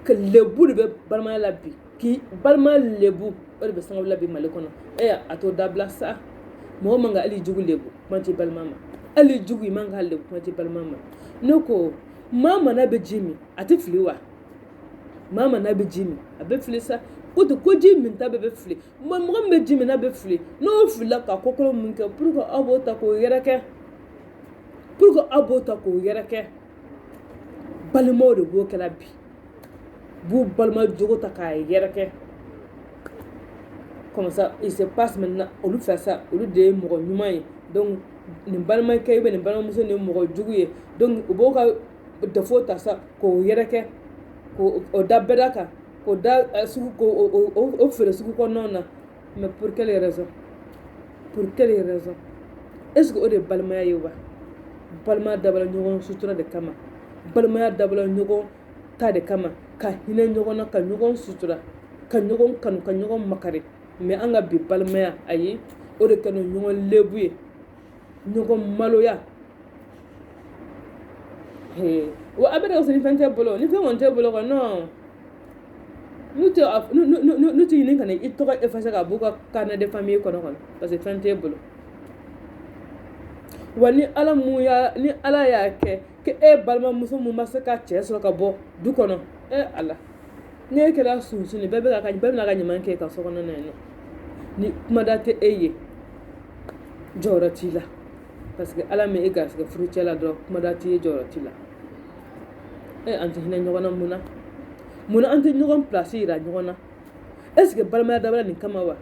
ka lebu de bɛ balimaya la bi k'i balima lebu o de bɛ sababu la bi mali kɔnɔ e a t'o dabila sa mɔgɔ man ka hali jugu lebu kuma t'i balima ma hali jugu i man ka lebu kuma t'i balima ma ne ko maa min n'a bɛ ji min a tɛ fili wa maa min n'a bɛ ji min a bɛ fili sa ko tɛ ko ji min ta bɛɛ bɛ fili mais mɔgɔ min bɛ ji min n'a bɛ fili n'o filila ka ko kolon min kɛ pourquoi aw b'o ta k'o yɛrɛkɛ pourquoi aw b'o ta k'o yɛrɛkɛ balimaw de b'o kɛla bi b'u balima jogo ta k'a yɛrɛkɛ comme ça il se passe maintenant olu fɛ sa olu de ye mɔgɔ ɲuman ye donc nin balimakɛ ye nin balimamuso nin ye mɔgɔ jugu ye donc u b'o ka défaut ta sa k'o yɛrɛkɛ k'o da bɛɛ da kan k'o da sugu k'o feere sugu kɔnɔnaw na mais pour quelle raison pour quelle raison est ce que o de ye balimaya ye wa balimaya dabɔla ɲɔgɔn sutura de kama balimaya dabɔla ɲɔgɔn ta de kama ka hinɛ ɲɔgɔn na ka ɲɔgɔn sutura ka ɲɔgɔn kanu ka ɲɔgɔn makari mais an ka bi balimaya ayi o de kɛlen ɲɔgɔn lebu ye ɲɔgɔn maloya wa a bɛ k'a fɔ ni fɛn t'e bolo ni fɛn kɔni t'e bolo kɔni non n'u tɛ n'u tɛ ɲini ka na i tɔgɔ effacer ka b'u ka carnet de famille kɔnɔ kɔnɔ parce que fɛn t'e bolo wa ni ala mun y'a ni ala y'a kɛ e balimamuso min ma se ka cɛ sɔrɔ ka bɔ du kɔnɔ e ala ne e kɛra sununkun bɛɛ bɛ ka bɛɛ bɛna ka ɲaman kɛ ka so kɔnɔ na yen ni kumada tɛ e ye jɔyɔrɔ t'i la parce que ala ma e garisɛgɛ furucɛ la dɔrɔn kumada t'i ye jɔyɔrɔ t'i la e an tɛ hinɛ ɲɔgɔn na mun na mun na an tɛ ɲɔgɔn pilasi yira ɲɔgɔn na est ce que balimaya dabɔla nin kama wa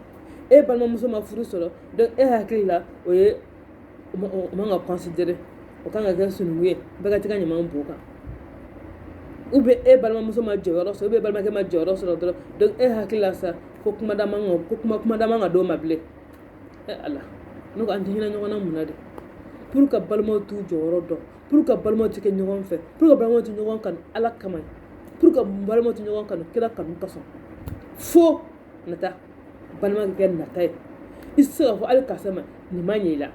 e balimamuso ma furu sɔrɔ donc e hakili la o ye o man ka considérer o kan ka kɛ sununkun ye bɛɛ ka t'i ka ɲaman b'o kan ou bien e balimamuso ma jɔyɔrɔ sɔrɔ ou bien balimakɛ ma jɔyɔrɔ sɔrɔ dɔrɔn donc e hakili la sa ko kuma ka kumada man ka d'o ma bilen e ala ne ko an tɛ hinɛ ɲɔgɔn na mun na de pour que balimaw t'u jɔyɔrɔ dɔn pour que balimaw tɛ kɛ ɲɔgɔn fɛ pour que balimaw tɛ ɲɔgɔn kanu ala kama pour que balima tɛ ɲɔgɔn kanu kira kanu kosɔn fo nata balima ka kɛ nata ye i tɛ se k'a fɔ hali karisa ma nin ma ɲɛ i la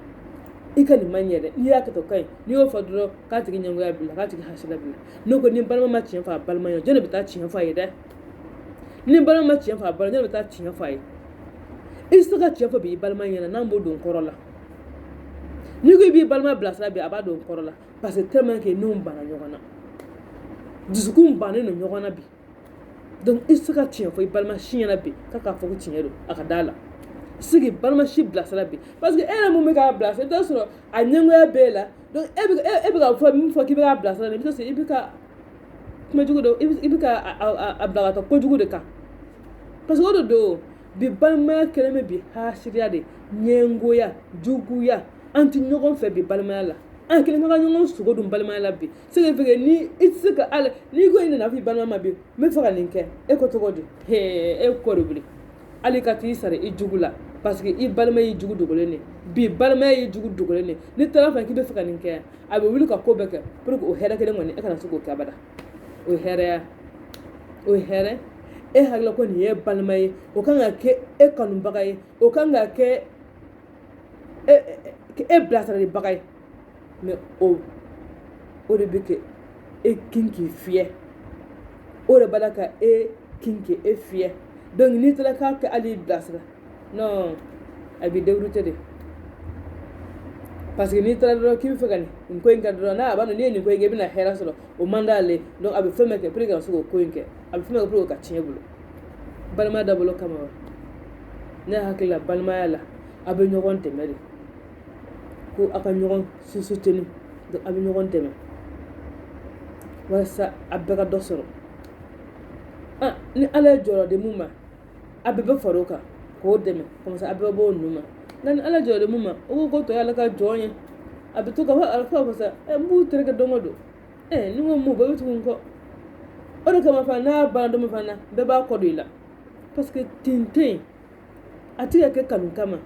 i ka nin ma ɲɛ dɛ n'i y'a kɛ tan o ka ɲi n'i y'o fɔ dɔrɔn k'a tigi ɲɛngoya b'i la k'a tigi haasidiya b'i la ne ko ni balima ma tiɲɛ fɔ a balima ye jɔni bɛ taa tiɲɛ fɔ a ye dɛ ni balima ma tiɲɛ fɔ a balima jɔni bɛ taa tiɲɛ fɔ a ye i tɛ se ka tiɲɛ fɔ bi i balima ɲɛna n'an b'o don kɔrɔ la n'i ko i b'i balima bilasira bi a b'a don kɔrɔ la parce que tellement que n'u banna ɲɔgɔn na dusukun bannen don ɲɔgɔn na bi donc i tɛ se ka tiɲɛ fɔ i balima si ɲɛna bi k'a k'a fɔ ko tiɲɛ don a ka d'a la se k'i balima si bilasira bi parce que e yɛrɛ min bɛ k'a bilasira i bɛ t'a sɔrɔ a ɲɛngoya b'e la donc e bɛ e, e bɛ ka fɛn min fɔ k'i bɛ k'a bilasira i bɛ t'a sɔrɔ i bɛ ka kuma jugu de i bɛ ka a bila ka taa kojugu de kan parce que o de don bi balimaya kɛlen bɛ bi haasidiya de ɲɛngoya juguya an tɛ ɲɔgɔn fɛ bi balimaya la an kɛlen ka ɲɔgɔn sogo dun balimaya la bi c'est que ni i tɛ se ka ala n'i ko i nana f'i balima ma bi n bɛ fɛ ka nin kɛ e ko cogo di hee e kɔ de wuli hali ka t'i sara i jugu la parce que i balima y'i jugu dogolen de bi balimaya y'i jugu dogolen de n'i taara fɛ k'i bɛ fɛ ka nin kɛ a bɛ wuli ka ko bɛɛ kɛ pour que o hɛrɛ kelen kɔni e kana se k'o kɛ abada o ye hɛrɛya o ye hɛrɛ e hakilila ko nin ye balima ye o kan ka kɛ e kanubaga ye o kan ka kɛ e bilasiralibaga ye mais o de bɛ ka e kin k'i fiyɛ o de b'a la ka e kin k'e fiyɛ donc n'i taara k'a kɛ hali bilasira non a b'i dérouter de parce que n'i taara dɔrɔn k'i bɛ fɛ ka nin ko in kɛ dɔrɔn n'a b'a dɔn n'i ye nin ko in kɛ i bɛna hɛrɛ sɔrɔ o man d'ale donc a bɛ fɛn bɛɛ kɛ pour que ka se k'o ko in kɛ a bɛ fɛn bɛɛ kɛ pour que k'a tiɲɛ i bolo balimaya dabɔla o kama wa ne hakili la balimaya la a bɛ ɲɔgɔn dɛmɛ de ko aw ka ɲɔgɔn soutenir donc aw bɛ ɲɔgɔn dɛmɛ walasa a bɛɛ ka dɔ sɔrɔ ah, ni ala ye jɔyɔrɔ di mun ma a bɛɛ bɛ fara o kan k'o dɛmɛ comme ça a bɛɛ bɛ bɔ o nu ma nka ni ala ye jɔyɔrɔ di mun ma o ko ko tɔw ye ale ka jɔn ye a bɛ to ka fɔ a fɔ ko sa ɛ eh, n b'u tereke don o don ɛ eh, ni n ko mun bɛɛ bɛ tugu n kɔ o de kama fana n'a banna don min fana bɛɛ b'a kɔ don i la parce que tin tɛ yen a tɛ ka kɛ kanu kama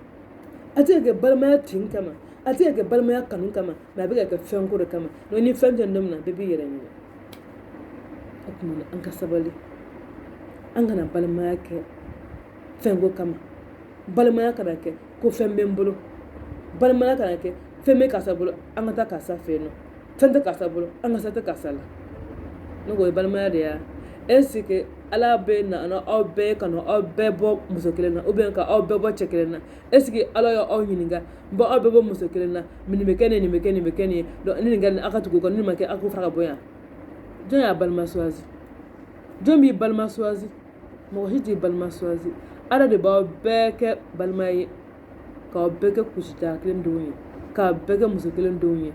a tɛ ka kɛ balimaya tin kama a tɛ ka kɛ balimaya kanu kama mais a bɛ ka kɛ fɛn ko de kama mais ni fɛn tɛ don min na bɛɛ b'i yɛrɛ ɲini o tuma na an ka sabali an kana balimaya kɛ fɛn ko kama balimaya kana kɛ ko fɛn bɛ n bolo balimaya kana kɛ fɛn bɛ karisa bolo an ka taa karisa fɛ yen non Fɛn tɛ karisa bolo an ka san tɛ karisa la ne ko o ye balimaya de ye est-ce que ala bɛ na aw bɛɛ ka aw bɛɛ bɔ muso kelen na ou bien k'aw bɛɛ bɔ cɛ kelen na est-ce que ala y' aw ɲininka bon aw bɛɛ bɔ muso kelen na nin bɛ kɛ ne nin bɛ kɛ nin bɛ kɛ nin ye ni nin kɛra aw ka tugu o kɔ ni nin ma kɛ aw k'o fara ka bɔ yan jɔn y'a balima choisir jɔn b'i balima choisir mɔgɔ si t'i balima choisir ala de b'aw bɛɛ kɛ balima ye k'aw bɛɛ kɛ kusita kelen denw ye k'aw bɛɛ kɛ muso kelen denw ye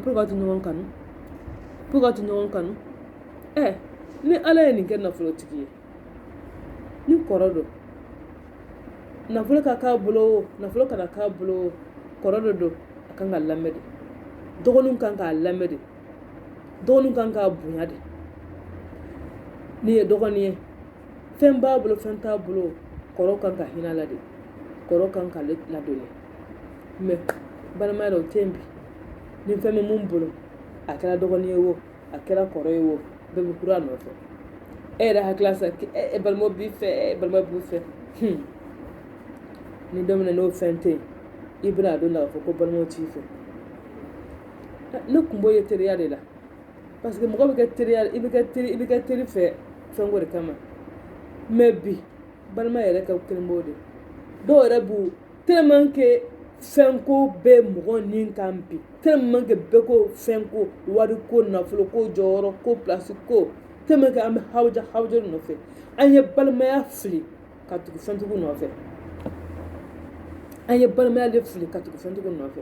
pour que a to ɲɔgɔn kanu to ɲɔgɔn kanu ɛ ni ala ye nin kɛ nafolotigi ye ni kɔrɔ don nafolo ka k'a bolo o nafolo kana k'a bolo o kɔrɔ de don a kan ka lamɛn de dɔgɔninw kan k'a lamɛn de dɔgɔninw kan k'a bonya de n'i ye dɔgɔnin ye fɛn b'a bolo fɛn t'a bolo kɔrɔ kan ka hinɛ a la de kɔrɔ kan k'a ladon mais balimaya la o tɛ yen bi ni fɛn bɛ min bolo a kɛra dɔgɔnin ye wo a kɛra kɔrɔ ye wo bɛɛ bɛ kura nɔfɛ e yɛrɛ hakili la sa e balima b'i fɛ e balima b'i fɛ ni don min na n'o fɛn tɛ yen i bɛna a dɔn la k'a fɔ ko balimaw t'i fɛ ne kun b'o ye teriya de la parce que mɔgɔ bɛ kɛ teriya i bɛ kɛ teri fɛ fɛn ko de kama mais bi balima yɛrɛ ka kɛlen b'o de dɔw yɛrɛ b'u tellement que fɛnko bɛ mɔgɔ ni kan bi tellement que bɛɛ ko fɛnko wariko nafoloko jɔyɔrɔ ko pilasi ko tellement que an bɛ hawuja nɔfɛ an ye balimaya fili ka tugu fɛntigiw nɔfɛ an ye balimaya de fili ka tugu fɛntigiw nɔfɛ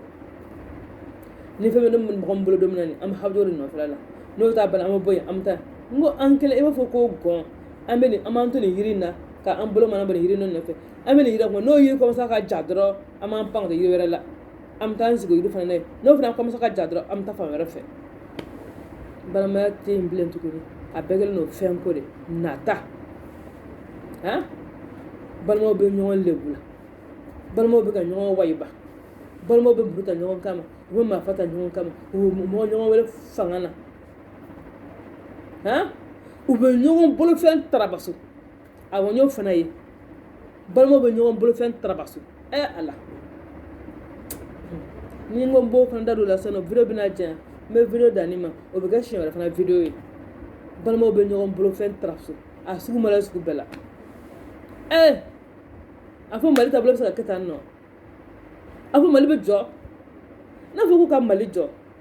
ni fɛn bɛ mɔgɔ min bolo don min na nin an bɛ hawuja de nɔfɛ la n'o t'a bolo an bɛ bɔ yen an bɛ taa n ko an kɛlen i b'a fɔ ko gɔn an bɛ nin an b'an to nin yiri in na ka an bolo mana bɔ nin yiri in nɔfɛ an bɛ nin yiri kɔnɔ n'o yiri commence ka ja dɔrɔn an b'an pan ka taa yiri wɛrɛ la an bɛ taa an sigi o yiri fana na yen n'o fana commence ka ja dɔrɔn an bɛ taa fan wɛrɛ fɛ balimaya tɛ yen bilen tuguni a bɛɛ kɛlen don fɛn ko de nata han balimaw bɛ ɲɔgɔn lebu la balimaw bɛ ka ɲɔgɔn wayiba balimaw bɛ muru ta ɲɔgɔn kama u bɛ marifa ta ɲɔgɔn kama u bɛ mɔgɔ ɲɔgɔn wele fanga na han u bɛ ɲɔgɔn bolofɛn tarabaso awɔ n y'o fana ye balimaw bɛ ɲɔgɔn bolofɛn tarabaso ɛ ala ni n ko n b'o fana da don o la sisan nɔ video bɛna janya n bɛ video dan nin ma o bɛ kɛ siɲɛ wɛrɛ fana video ye balimaw bɛ ɲɔgɔn bolofɛn tarabaso a sugu ma la sugu bɛɛ la ɛ a fɔ mali taabolo bɛ se ka kɛ tan nɔ a fɔ mali bɛ jɔ n'a fɔ k'u ka mali jɔ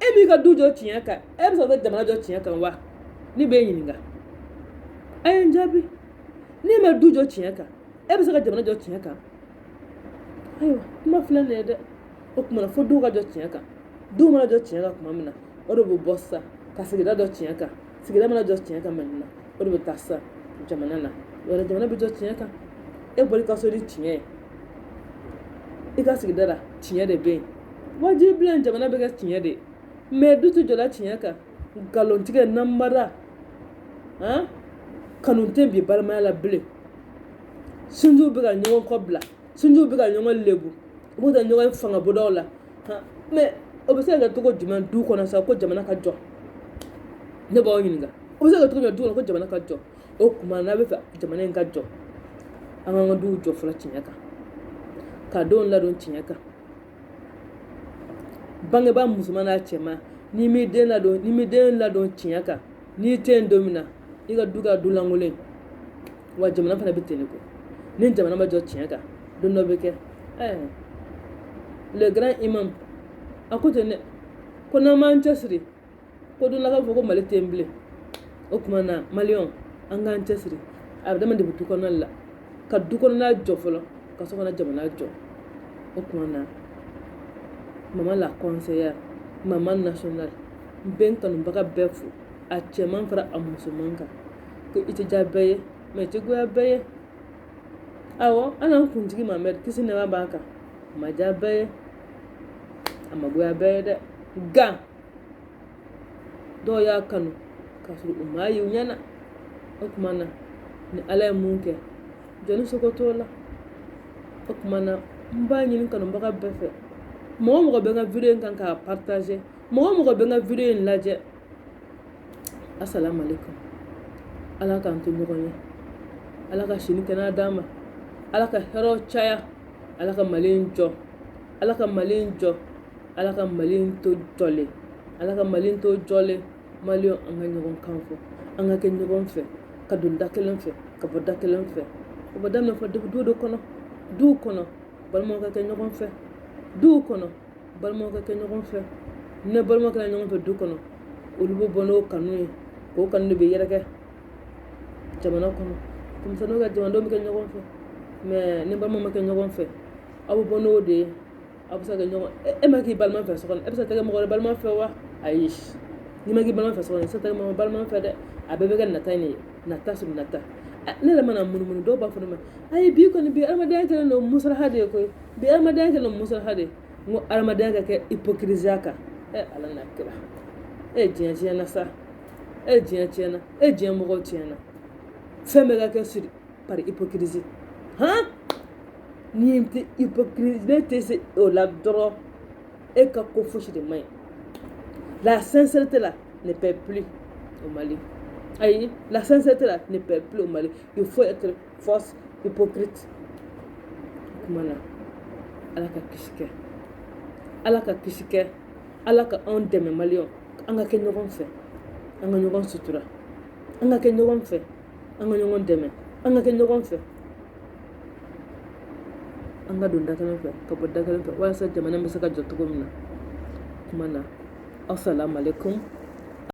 e m'i ka du jɔ tiɲɛ kan e bɛ se ka jamana jɔ tiɲɛ kan wa ne b'i ɲininka a ye n jaabi n'i ma du jɔ tiɲɛ kan e bɛ se ka jamana jɔ tiɲɛ kan ayiwa kuma filɛ nin ye dɛ o kuma na fo duw ka jɔ tiɲɛ kan duw mana jɔ tiɲɛ kan tuma min na o de bɛ bɔ sisan ka sigida jɔ tiɲɛ kan sigida mana jɔ tiɲɛ kan tuma min na o de bɛ taa sa jamana na wala jamana bɛ jɔ tiɲɛ kan e bɔra i ka so ni tiɲɛ ye i ka sigida la tiɲɛ de bɛ yen wajibi bilen jamana bɛ kɛ tiɲɛ de ye mais du tɛ jɔla tiɲɛ kan nkalontigɛ namara han kanu tɛ bi balimaya la bilen sinjiw bɛ ka ɲɔgɔn kɔ bila sinjiw bɛ ka ɲɔgɔn lebu u b'u ta ɲɔgɔn fanga bondaw la mɛ o bɛ se ka kɛ cogo jumɛn du kɔnɔ sa ko jamana ka jɔ ne b'aw ɲininka o bɛ se ka kɛ cogo jumɛn du kɔnɔ ko jamana ka jɔ o tuma n'an b'a fɛ jamana in ka jɔ an k'an ka duw jɔ fɔlɔ tiɲɛ kan ka denw ladon tiɲɛ kan bangebaa musoman n'a cɛman n'i m'i den ladon n'i m'i den ladon tiɲɛ kan n'i tɛ yen don min na i ka du kɛ du lankolon wa jamana fana bɛ ten de ko ni jamana ma jɔ tiɲɛ kan don dɔ bɛ kɛ ɛɛ le grand imam a ko ten dɛ ko n'an m'an cɛsiri ko don la k'a fɔ ko mali tɛ yen bilen o tuma na maliyɛnw an k'an cɛsiri a bɛ daminɛ depuis du kɔnɔna la ka du kɔnɔna jɔ fɔlɔ ka sɔrɔ ka na jamana jɔ o tuma na mama la conseillère mama nationale n bɛ n kanubaga bɛɛ fo a cɛman fara a musoman kan ko i tɛ diya bɛɛ ye mɛ i tɛ goya bɛɛ ye awɔ hali an kuntigi mamɛdi kisi nɛɛma b'a kan a ma diya bɛɛ ye a ma goya bɛɛ ye dɛ nka dɔw y'a kanu k'a sɔrɔ u m'a ye u ɲɛ na o tuma na ni ala ye min kɛ jɔnni sago t'o la o tuma na n b'a ɲini kanubaga bɛɛ fɛ mɔgɔ o mɔgɔ bɛ n ka video in kan k'a partager mɔgɔ o mɔgɔ bɛ n ka video in lajɛ asalaamaaleykum ala k'an to ɲɔgɔn ye ala ka si ni kɛnɛya d'an ma ala ka hɛrɛw caya ala ka mali in jɔ ala ka mali in jɔ ala ka mali in to jɔlen ala ka mali in to jɔlen maliyɛnw an ka ɲɔgɔn kan fɔ an ka kɛ ɲɔgɔn fɛ ka don da kelen fɛ ka bɔ da kelen fɛ o bɛ daminɛ fɔ duw de kɔnɔ duw kɔnɔ balimaw ka kɛ ɲɔgɔn fɛ duw kɔnɔ balimaw ka kɛ ɲɔgɔn fɛ ni balimaw kɛra ɲɔgɔn fɛ du kɔnɔ olu bɛ bɔ n'o kanu ye k'o kanu de bɛ yɛrɛkɛ jamana kɔnɔ denmisɛnninw ka jamanadenw bɛ kɛ ɲɔgɔn fɛ mɛ ni balimaw ma kɛ ɲɔgɔn fɛ aw bɛ bɔ n'o de ye aw bɛ se ka kɛ ɲɔgɔn e ma k'i balima fɛ so kɔnɔ e bɛ se ka kɛ mɔgɔ wɛrɛ balima fɛ wa ayi n'i ma k'i balima fɛ so kɔnɔ i tɛ se ka kɛ mɔgɔ balima fɛ dɛ a bɛɛ bɛ kɛ nata in de ye nata sur nata ne yɛrɛ mana munumunu dɔw b'a fɔ ne ma ayi bi kɔni bi adamadenya kɛlen don musalaha de ye koyi bi adamadenya kɛlen don musalaha de ye n ko adamadenya ka kɛ ipokiriziya kan e ala n'a kira e diɲɛ tiɲɛna sa e diɲɛ tiɲɛna e diɲɛ mɔgɔw tiɲɛna fɛn bɛɛ ka kɛ sur par hypocrisie han n'i tɛ hypocrisie n'e tɛ se o la dɔrɔn e ka ko fosi de man ɲi la sincérité là ne paie plus au Mali ayi la sincérité là ne paie plus au Mali il faut être Fausse hypocrite. Kuma na. Ala ka kisi kɛ. Ala ka kisi kɛ. Ala ka anw dɛmɛ maliyɛnw. An ka kɛ ɲɔgɔn fɛ. An ka ɲɔgɔn sutura. An ka kɛ ɲɔgɔn fɛ. An ka ɲɔgɔn dɛmɛ. An ka kɛ ɲɔgɔn fɛ. An ka don da kelen fɛ ka bɔ da kelen fɛ walasa jamana bɛ se ka jɔ cogo min na. Kuma na. Assalamu alaikum.